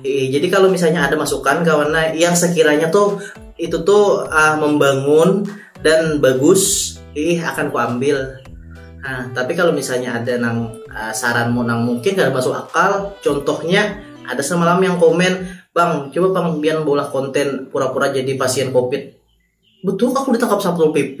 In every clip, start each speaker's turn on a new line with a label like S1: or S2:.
S1: Iya, jadi kalau misalnya ada masukan kawan nah, yang sekiranya tuh itu tuh uh, membangun dan bagus, ih akan kuambil. Nah, tapi kalau misalnya ada nang uh, saranmu nang mungkin gak masuk akal, contohnya ada semalam yang komen, bang coba bang biar bola konten pura-pura jadi pasien covid, betul aku ditangkap satu pp,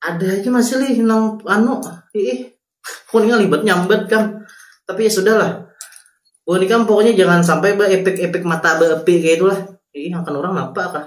S1: ada aja masih lih nang anu ih kuning libet nyambat kan tapi ya sudahlah Wah, ini kan pokoknya jangan sampai epek-epek mata beepi kayak itulah ih akan orang napa kah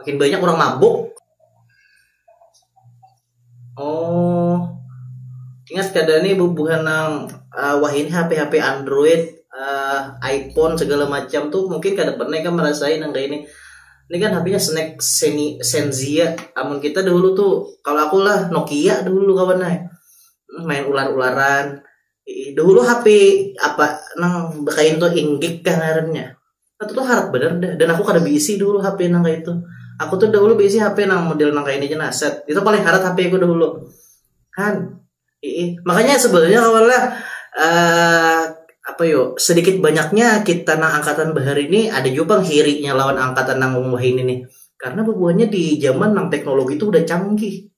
S1: makin banyak orang mabuk oh ingat kada nih bubuhan nang uh, wah ini HP HP Android uh, iPhone segala macam tuh mungkin kada pernah kan merasain yang kayak ini ini kan HP-nya snack seni Senzia amun kita dulu tuh kalau aku lah Nokia dulu kawan eh. main ular-ularan dahulu HP apa nang bekain tuh inggik kah ngarannya itu tuh harat bener dah dan aku kada beisi dahulu HP nang kaya itu aku tuh dahulu beisi HP nang model nang kaya ini ja nah set itu paling harat HP ku dahulu han iih makanya sebenarnya kawan lah uh, apa yo sedikit banyaknya kita nang angkatan bahar ini ada juga pang hirinya lawan angkatan nang wahini nih karena bebuahnya di zaman nang teknologi itu udah canggih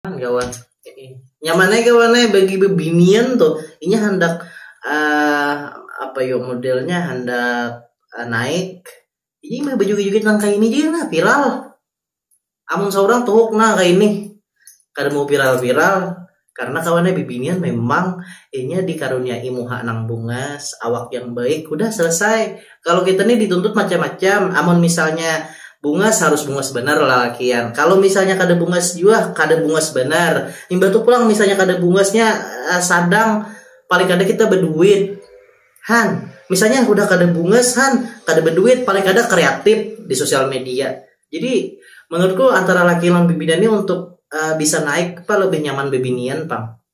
S1: kawan nyaman aja kawan eh, bagi bebinian tuh ini hendak uh, apa yo modelnya hendak uh, naik ini mah baju juga tentang kayak ini juga nah viral amun seorang tuhuk nah kayak ini kada mau viral-viral karena kawannya bibinian memang inya dikaruniai muha nang bungas awak yang baik udah selesai kalau kita nih dituntut macam-macam amun misalnya bungas harus bungas benar lalakian kalau misalnya kada bungas jua kada bungas benar imbah tu pulang misalnya kada bungasnya eh, sadang paling kada kita berduit han misalnya udah kada bungas han kada berduit paling kada kreatif di sosial media jadi menurutku antara laki lan bibidan ini untuk eh, bisa naik apa lebih nyaman bebinian pang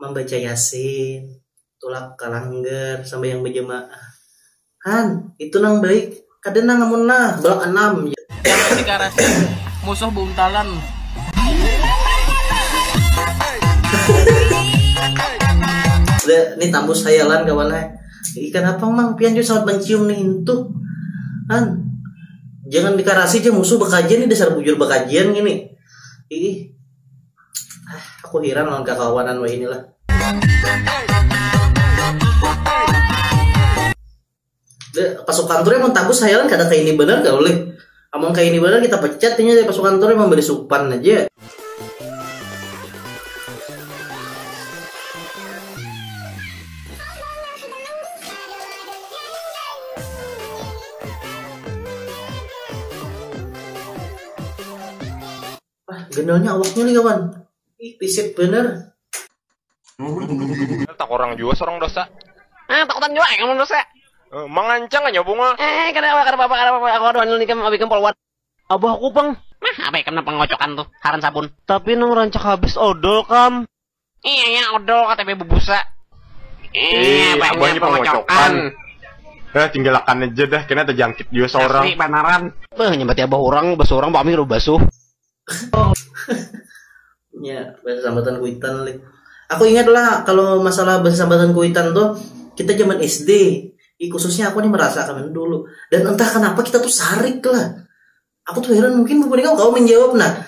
S1: mambaca yasin, tulak ka langgar sambahyang bajamaah han itu nang baik kada nang amun nah balak anam ja. Karasi karasi musuh buntalan. Sudah nih tambus hayalan kawan ai. Ikan apang mang pian jua sawat mancium nih intu han jangan dikarasi ja musuh bakajian nih dasar bujur bakajian ngini iih. ah, aku hiran lawan kakawanan wah inilah pasukan tuh emang tagus hayalan kada kayak ini benar gak boleh amun kayak ini benar kita pecat ini dari pasukan tuh emang beri supan aja Wah, genelnya awaknya nih kawan. Ih, pisit bener. Tak orang jua sorong dosa. Ah, takutan jua eh, kamu dosa. Eh, mangancang aja bunga. Eh, kada apa, kada apa, kada apa. Aku ada handle nikam, abikam polwan. Abah aku pang. Nah, abah ikam nang pengocokan tuh, haran sabun. Tapi nang rancak habis odol kam. Iya ya odol KTP bebusa. Iya, banyak abahnya pengocokan. Eh, tinggalakan aja dah, kena terjangkit juga seorang. Asli banaran. Beuh, nyambat abah orang, basuh orang, pami lu basuh. ya, bahasa sambatan kuitan lih. Aku ingat lah kalau masalah bahasa sambatan kuitan tuh kita zaman SD. I, khususnya aku nih merasakan dulu. Dan entah kenapa kita tuh sarik lah. Aku tuh heran mungkin beberapa kau menjawab nah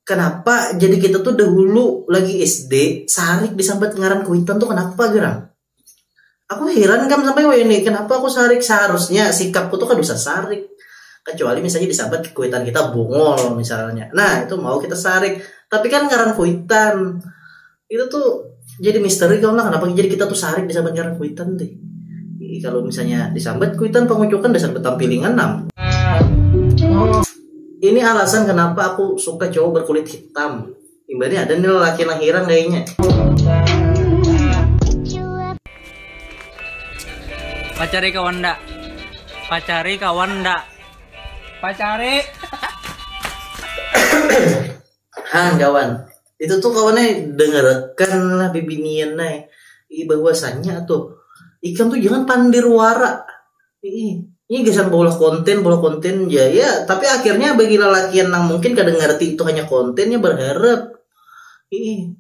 S1: kenapa jadi kita tuh dahulu lagi SD sehari disambat ngaran kuitan tuh kenapa gerang aku heran kan sampai wah ini kenapa aku sarik seharusnya sikapku tuh kan bisa sarik kecuali misalnya disambat kuitan kita bungol misalnya nah itu mau kita sarik tapi kan ngaran kuitan itu tuh jadi misteri kalau nah kenapa jadi kita tuh sarik disambat ngaran kuitan teh jadi kalau misalnya disambat kuitan pengucukan dasar betampilingan nam ini alasan kenapa aku suka cowok berkulit hitam imbahnya ada nih lelaki yang hirang kayaknya pacari kawan ndak pacari kawan ndak pacari hang kawan Itu tuh kawan eh dengarakan lah bibinian nai ih bahwasanya tuh ikam tuh jangan pandir wara ih ini gasan baulah konten baulah konten ja ya tapi akhirnya bagi lalakian nang mungkin kada ngarti itu hanya konten nya barharap ih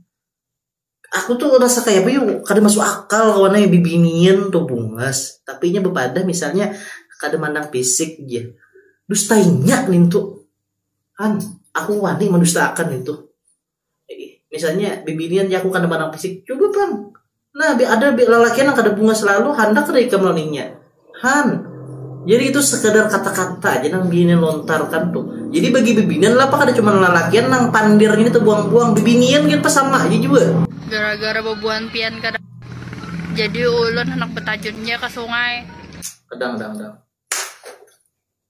S1: aku tuh rasa kaya apa yu kada masuk akal kawan eh bibinian tuh bungas tapi inya bepadah misalnya kada mandang pisik ja dustainya nintu. An, aku wani mandustaakan itu. Misalnya bibinian jaku kada mandang fisik, cuba pang. Nah, ada lalakian nang kada bungas lalu handak kada ikam laluinya. Han, jadi itu sekadar kata-kata aja nang binian lontarkan tuh. Jadi bagi bibinian lapa kada cuman lalakian nang pandir ngini tabuang-buang, bibinian gin pas sama aja jua. Gara-gara babuhan pian kada jadi ulun handak batajun ja ka sungai. Kadang, kadang, kadang.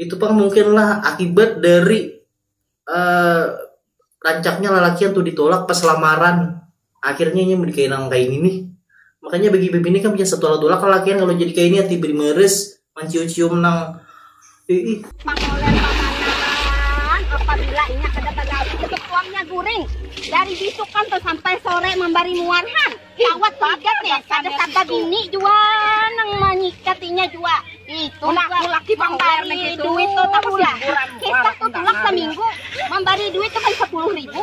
S1: itu pang mungkinlah akibat dari uh, rancaknya lelaki yang tuh ditolak pas lamaran akhirnya ini menikahi nang kayak ini makanya bagi bibini kan punya satu alat tolak lelaki yang kalau jadi kayak ini hati beri meres mencium-cium nang Pangoler pamanah apabila inya kada bagawi tutup tuangnya guring dari bisukan tu sampai sore mambari muarhan kawat tuigat ni kada saga bini jua nang manyikat inya jua itu mambari duit tu tahulah kisah tu tulak saminggu mambari duit tu kan sapuluh ribu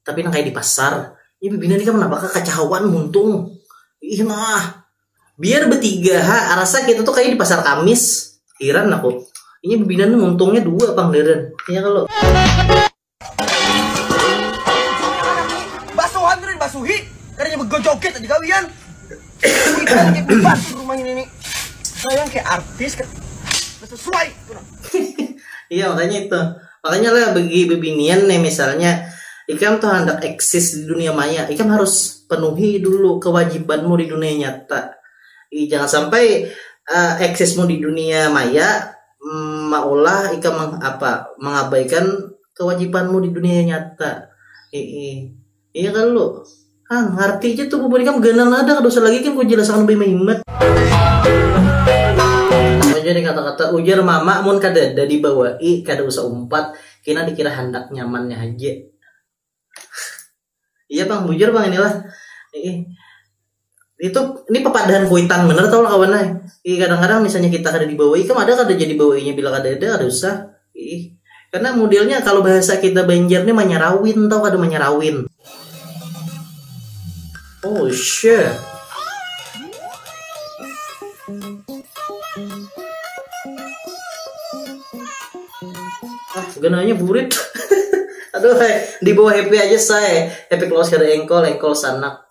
S1: Tapi nang kaya di pasar, ih bibinian ikam napa kakacahuan muntung, ih nah. Biar betiga ha, rasa kita tuh kaya di pasar kamis, hiran aku, inya bibinian nih muntungnya dua pang meren, ya kalo. Basuhan kada dibasuhi, kadanya begojoget aja gawian, kuitan kaya bebatur rumah ini nih, sayang kaya artis kada sesuai tu nah. Iya makanya itu. Makanya lah bagi bebinian nih misalnya ikam tuh handak eksis di dunia maya, ikam harus penuhi dulu kewajibanmu di dunia nyata. Jadi jangan sampai uh, eksismu di dunia maya mm, maulah ikam meng, apa mengabaikan kewajibanmu di dunia nyata. Heeh. Iya kalu. Hang, ngarti ja tu bubuhan ikam ganal ada kada usah lagi ikam ku jelas akan lebih mahimat. Sama ja nih kata-kata ujar mama mun kadada di bawai kada usah umpat kina di kira handak nyaman nya haja. Iya pang bujur pang ini lah. Iih. itu ini pepadahan kuitan bener tau lah kawan eh. Ih, kadang-kadang misalnya kita kada dibawahi kan ada kada jadi bawainya bila kada ada ada usah ih karena modelnya kalau bahasa kita Banjar nih manyarawin tau kada manyarawin oh shit ah gananya burit aduh eh, di bawah happy aja saya happy close kada engkol engkol sanak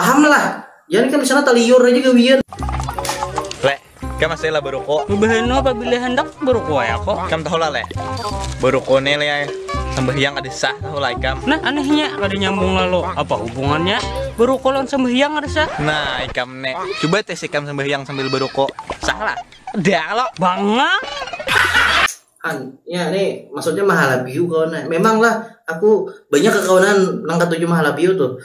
S1: Paham lah. Yan kan disana taliur aja gawian. Leh, kam asai lah baruko. Babahana pabila handak baruko ai ako. Kam tahu lah leh. Baruko ne leh ai. Sambahyang kada sah tahu lah ikam. Nah anehnya kada nyambung lalu. Apa hubungannya baruko lawan sambahyang kada sah? Nah ikam ne. Cuba tes ikam sambahyang sambil baruko. Sah lah? Kada kalo. Bangang. Han, nya ne maksudnya mahalabiu kawan ai. Memang lah aku banyak kakawanan nang katuju mahalabiu tuh.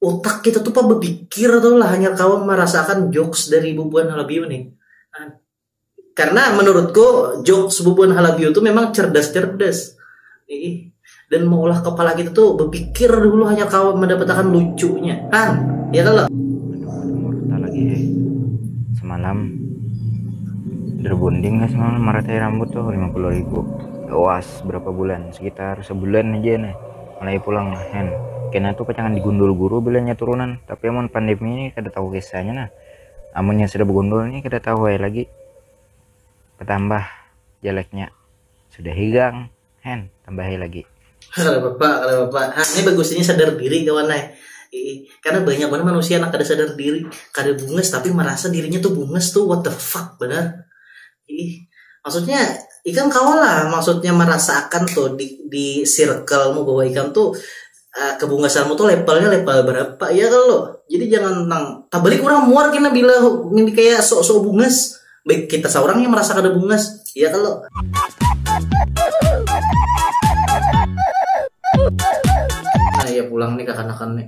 S1: otak kita tuh pa berpikir tau lah hanya kawan merasakan jokes dari bubuhan halabiu nih nah, karena menurutku jokes bubuhan halabiu tuh memang cerdas-cerdas dan mengolah kepala kita tuh berpikir dulu hanya kawan mendapatkan lucunya kan ya kan lo lagi hei semalam berbonding gak semalam maratai rambut tuh 50 ribu luas berapa bulan sekitar sebulan aja nih Mulai pulang lah hen. Kena tu pacangan digundul guru bila nya turunan, tapi amun pandemi ni kada tahu kisah nya nah. Amun nya sudah begundul ni kada tahu ai lagi. Betambah jelek nya. Sudah higang hen tambahi lagi. Kada papa kada papa. Hah ni bagus ini sadar diri kawan ai. Iih karena banyak banar manusia nang kada sadar diri. Kada bungas tapi merasa dirinya tu bungas tu what the fuck banar. Ih, maksudnya ikam kawalah maksudnya merasakan tuh di di circlemu bahwa ikam tuh uh, kebungkasanmu tuh levelnya level berapa ya kalau jadi jangan tentang tak balik orang muar kena bila ini kayak sok-sok bungas baik kita seorang yang merasa kada bungas ya kalau nah ya pulang nih kakanakan nih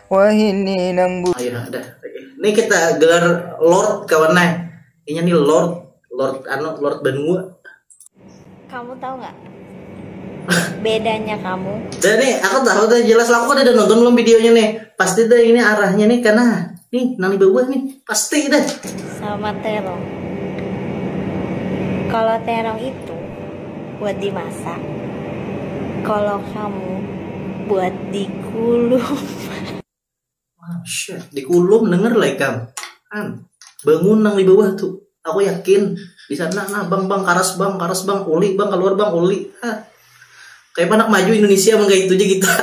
S1: Wahini nang bu. Ayo dah. Ini kita gelar Lord kawan nah. Ini nih Lord, Lord anu, Lord Banua. Kamu tahu nggak bedanya kamu? Dan nih, aku tahu deh jelas lah. Aku udah nonton belum videonya nih. Pasti deh ini arahnya nih karena nih nang di bawah nih pasti deh. Sama terong. Kalau terong itu buat dimasak kalo kamu buat dikulum. Masyaallah dikulum denger lah ikam an bangun nang di bawah tu aku yakin disana nah bang bang karas bang karas bang uli bang kaluar bang uli ha kaya panak maju indonesia mun kaitu ja kita.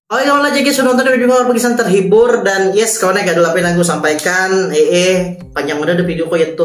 S1: Oke kawan lah jg sudah nonton video pagi san terhibur dan yes kawan ya gaduh apa yang ingin ku sampaikan ee panjang udah deh video ko yaitu